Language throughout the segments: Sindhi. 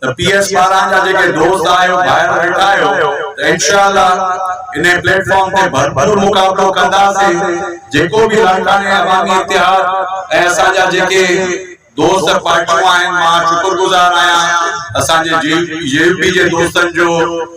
ته پي ايس ٻارهن جا جيڪي دوست آهيو ڀائر ويٺا آهيو ته انشاء الله انهي پليٽ فارم تي ڀرپور مقابلو ڪنداسين جيڪو به لاڙڪاڻي عوامي اتحاد ۽ اسان جا جيڪي دوست پارٽيون آهن مان شڪر گذار آهيان اسان جي جي يو پي جي دوستن جو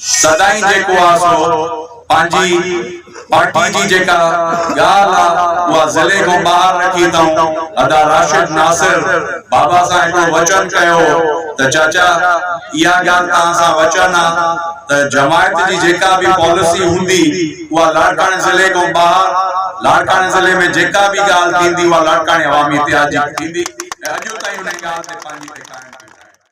سدائين جيڪو آ سو پنهنجي پارٽي جي جيڪا ڳالهه آ اها ضلعي کان ٻاهر رکي تون ادا راشد ناصر بابا سان هڪڙو وچن ڪيو هو ته چاچا اها ڳالهه توهان سان وچن آ ته جماعت جي جيڪا به پاليسي هوندي اها لاڙڪاڻي ضلعي کان ٻاهر لاڙڪاڻي ضلعي ۾ جيڪا به ڳالهه ٿيندي اها لاڙڪاڻي عوامي اتحاد جي ٿيندي ۽ اڄ تائين انهي ڳالهه تي پنهنجي تي قائم ويٺا آهن.